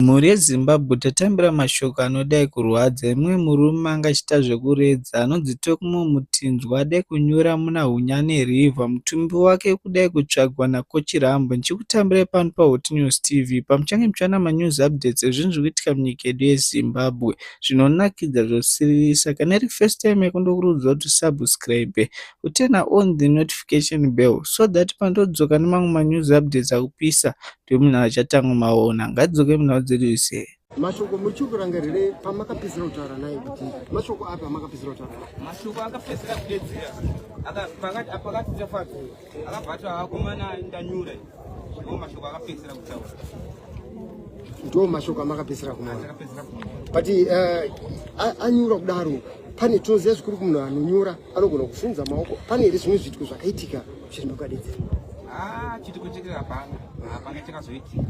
Mhuri yeZimbabwe tatambira mashoko anodai kurwadza emumwe murume anga achiita zvekuredza anonzi Tokmo Mutinzwa adai kunyura muna Hunyane River mutumbi wake ukudai kutsvagwa naKochirambo ndichikutambirai pano paHotnews TV pamuchange muchiwana manews updates ezvinhu zviri kuitika munyika yedu yeZimbabwe zvinonakidza zvosiririsa kana iri first time yako ndokurudzwa kuti subscribe uturn on the notification bell so that pandodzoka nemamwe manews updates akupisa tomunhu achatanga maona ngadzoke munhau dzedu ise mashoko muchiri kurangarire pamakapedzera kutaura naye kuti mashoko api amakapedzera kutaura naye mashoko akapedzera kudedzera pakati tafadza akabva ati akomana ndanyura ndo mashoko akapedzera kutaura ndo mashoko amakapedzera kumana but eh, anyura kudaro pane toziva zvikuru kumunhu anonyura anogona kufunza maoko pane here zvimwe zviitiko zvakaitika chirima kukadedzera ah, chitiko chete hapana hapana chakazoitika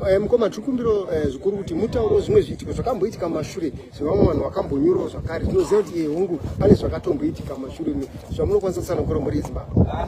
eh, mukoma tiri kumbiro eh, zvikuru kuti mutauro zvimwe zviitiko zvakamboitika mashure zvevamwe vanhu vakambonyurawo zvakare tinoziva kuti iye eh, hungu pane zvakatomboitika mashure zvamunokwanisa kusanokora mhuri yezimbabwe ah,